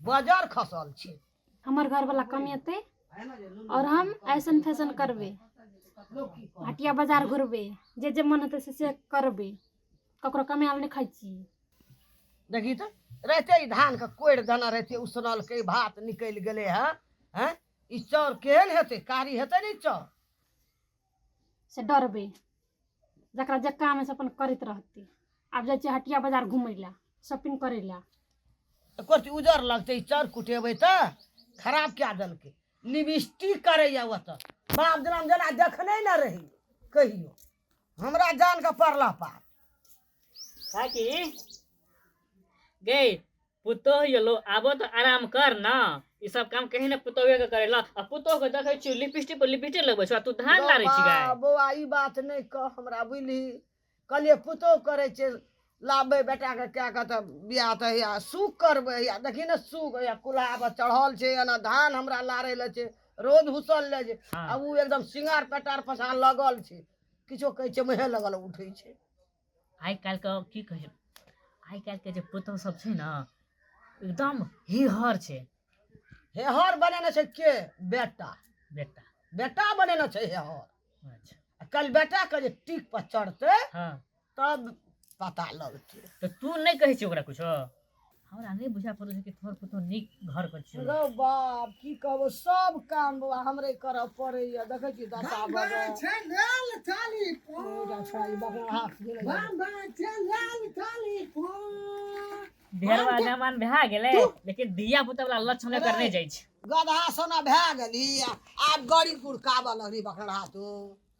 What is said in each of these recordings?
बजर खसल छै हमर घरवला कमेतै आओर हम ऐसन फैसन करबै हटिया बाजार घुरबै जे जे मन हेतै से से करबै ककरो कमायल नहि खाइ छी देखी तऽ रहते ई धानके कोड़ि देने रहते उसनलकै भात निकलि गेलै हँ हैं ई चाउर केहन हेतै कारी हेतै ने ई चाउर से डरबै जकरा जे काम से अपन करैत रहतै आब जाइ छियै हटिया बाजार घुमै लए शॉपिंग करै लए एकर उजर लगतै चर कुटेबै तऽ खराब कए देलकै लिपस्टिक करैए ओतऽ बाप जेना जेना देखने ने रही कहियो हमरा जान के पड़ला पार काकी गई पुतोह यो लो आबो तो आराम कर ना ई सब काम कहीं ना पुतोहे के करेला आ पुतोह के देखै छी लिपस्टिक पर लिपस्टिक लगबै छौ आ तू धान गौ लारै छी बा, गाय बौआ ई बात नहि कह हमरा बुझली कहलियै पुतोह करै छै लाबबै बेटाके कए कऽ तऽ बियाह तऽ हैया सूख करबै हैया देखी ने सूख हैया कुल्हापर चढ़ल छै एना धान हमरा लारै लए छै रोज हुसल लए छै हाँ। आ ओ एकदम सिंगार पेटार पछाँ लगल छै किछो कहै छै मुँहे लगल उठै छै आइ काल्हिके कि कहै छै आइ काल्हिके जे पुतहु सब छै ने एकदम हेहर छै हेहर बनेने छै के बेटा बेटा बेटा बनेने छै हेहर अच्छा आ काल्हि बेटाके जे टीक पर चढ़तै हँ तब पता लगतै तऽ तू नहि कहै छी ओकरा किछो हमरा नहि बुझा पड़ै छै कि तोहर पुतो नीक घर पर छै रौ बाप की कहबो सब काम बौआ हमरे करऽ पड़ैया देखै छी दशा भऽ गेल छै लाल थाली पो जा छोड़ा ई बाप रे हाथ गेलै बाबा छै लाल थाली पो भेरवा जमान भए गेलै लेकिन धिया पुता वाला लक्षण एकर नहि जाइ छै गधा सोना भए गेली आ- आब गड़ी गुड़काबऽ लगली बकरा तू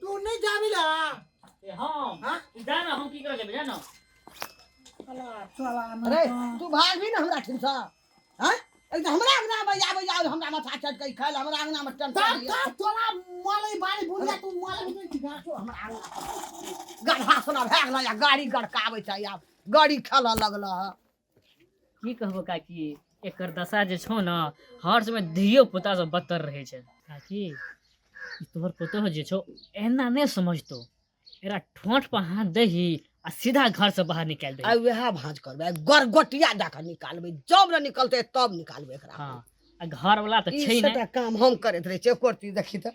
तू नहीं जाबी ला ए हम हाँ? तू जा ना हम की करे जेबे जा ना अरे तू भाग भी ना हमरा ठिन सा हैं एक तो हमरा अंगना में आबे जाओ हमरा माथा चटकै खाइल हमरा अंगना में टन तब तब तोरा माले बारी बुझिया तू माले बुझिया कि गाछो हमरा आंगन गढ़ा सुना भए गेल या गाड़ी गड़काबै छै आब गाड़ी खेलऽ लगल की कहबो काकी एकर दशा जे छौ ने हर समय धियो पुता से बदतर रहे छै काकी ई तोहर पुतोह जे छौ एना नहि समझतो एकरा ठोंठ पर हाथ दही आ सीधा घर से बाहर निकाल दही आइ वएह भाँज करबै आइ गरगोटिया दए कऽ निकालबै जब ने निकलतै तब निकालबै एकरा हाँ आ घर वाला तऽ ई छै सबटा काम हम करैत रहै छियै एको रती देखी तऽ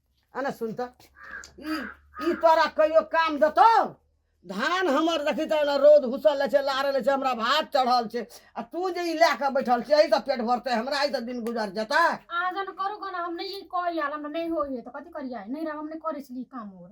आ ने सुन तऽ ई ई तोरा कहियो काम देतौ धान हमर देखी तऽ ने रौद हुसल लै छै लारल लै छै हमरा भात चढ़ल छै आ तू जे ई लए कऽ बैठल छै एहिसँ पेट भरतै हमरा एहिसँ दिन गुजर जेतै अहाँ जन करू गना हम नहि ई करी आल हमरा नहि होइए तऽ कथी करियै नहि रह हम नहि करै छलियै ई काम आओर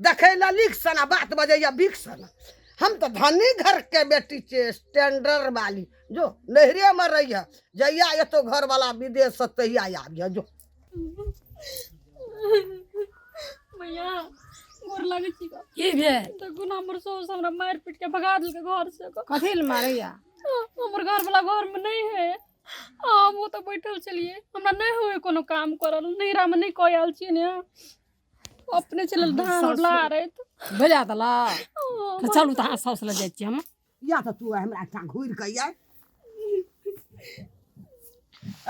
देखै लए लीक सना बात बजैया बिक सना हम तऽ धनी घरके बेटी छियै स्टैंडर्ड वाली जो नैहरेमे रहिए जहिया एतो घरवला विदेशसँ तहिया आबिए जो मैया गोर लागै छी का की भेल तऽ गुना हमर सौस हमरा मारि पीट के भगा देलकै घर से का। कथी लए मारैया हमर घर वाला घर में नहीं है आ हम ओतऽ बैठल छलियै हमरा नहि होय कोनो काम करल नैहरा में नहि कऽ आयल छियै ने अपने चलल धान उला रहे तो बजा दला तो चलू तो हाथ साउस लग जाए हम या तो तू हमरा एकटा घूर के या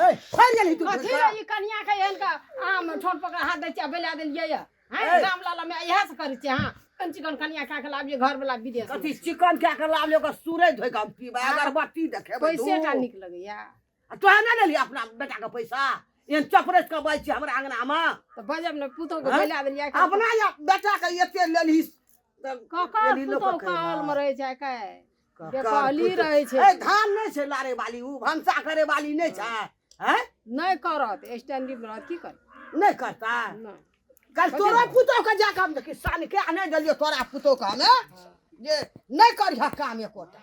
ए खोल गेली तू कथी रे ई कनिया के एहन का आम ठोन पकड़ हाथ दै छियै बेला देलियै या हैं राम लाला में इहे से करै छियै हां कन चिकन कनिया का के लाबिए घर वाला विदेश कथी चिकन क्या के लालियो के सूरज धोइ के हम पीबा अगरबत्ती देखेबै कोई सेटा निक लगैया आ तोहे ना लेली अपना बेटा के पैसा एहन चपरेस के बाजि छी हमरा अंगना मे तऽ बजब ने पुतहु के हँ? बोला देली आइ काल्हि। अपना या बेटा के एते लेलही काका लेलही लोक पुतहु के काल मे रहै छै आइ काल्हि। बेकहली रहै छै। ए धान नहि छै लारे वाली उ भंसा करे वाली नहि छै हैं नहि करत स्टैंडिंग मे रहत की करत नहि करता नहि कल तोरा पुतौ के जाके हम देखी सान के आ नहि देलियो तोरा पुतौ के हमे जे नहि करिह काम एकोटा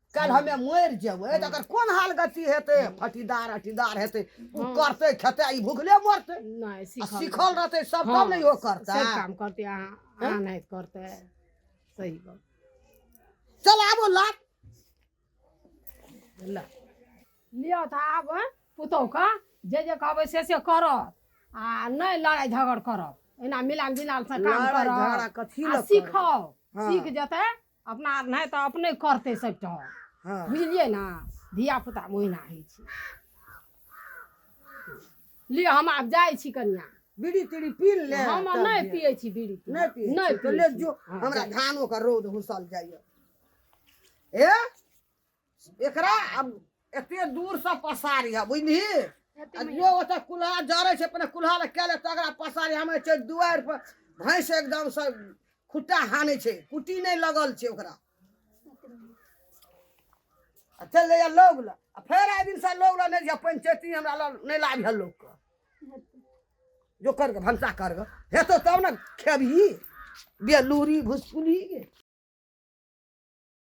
काल्हि हमे मरि जेबै तऽ एकर कोन हाल गति हेतै फटीदार अटीदार हेतै ओ करतै खेतै आ ई भुखले मरतै नहि आ सीखल सिखल रहतै सब हँ, तब ने इहो करतै सब काम करते अहाँ अहाँ नहीं तो करते सही बात चल आबो लाट ला लिअ तऽ आब हँ, पुतहुके जे जे कहबै से से करत आ नहि लड़ाइ झगड़ करत एना मिलान मिलान से काम लड़ाइ करत झगड़ा कथी आ लए करबै? सिखाउ हँ। सीख जेतै अपना नहि तऽ अपने करतै सभटा हँ बुझलियै ने धियापुता ओहिना होइ छै लिअ हम आब जाइ छी कनिया बीड़ी तीड़ी पी ले हम तब नहि जे- पियै छी बीड़ी तीड़ी। नहि पी नहि तो पियै ले छी। जो हँ, हमरा जाय छी। धानो के रौद हुसल जाइए ए एकरा आब एते दूर से पसारी है बुझली आ जो ओतऽ कुल्हा जड़ै छै अपने कुल्हा लग कए लेत तकरा पसारी हमे छै दुआरि पर भैंस एकदम से खुट्टा हानै छै कुटी नहि लगल छै ओकरा आ चलि जाइए लोग लग आ फेर आइ दिनसँ लोग लग नहि जाए पंचैती हमरा लग नहि लाबि है लोकके जो करके भनसा करके हेतौ तब ने खेबही बेलूरी भुसकुली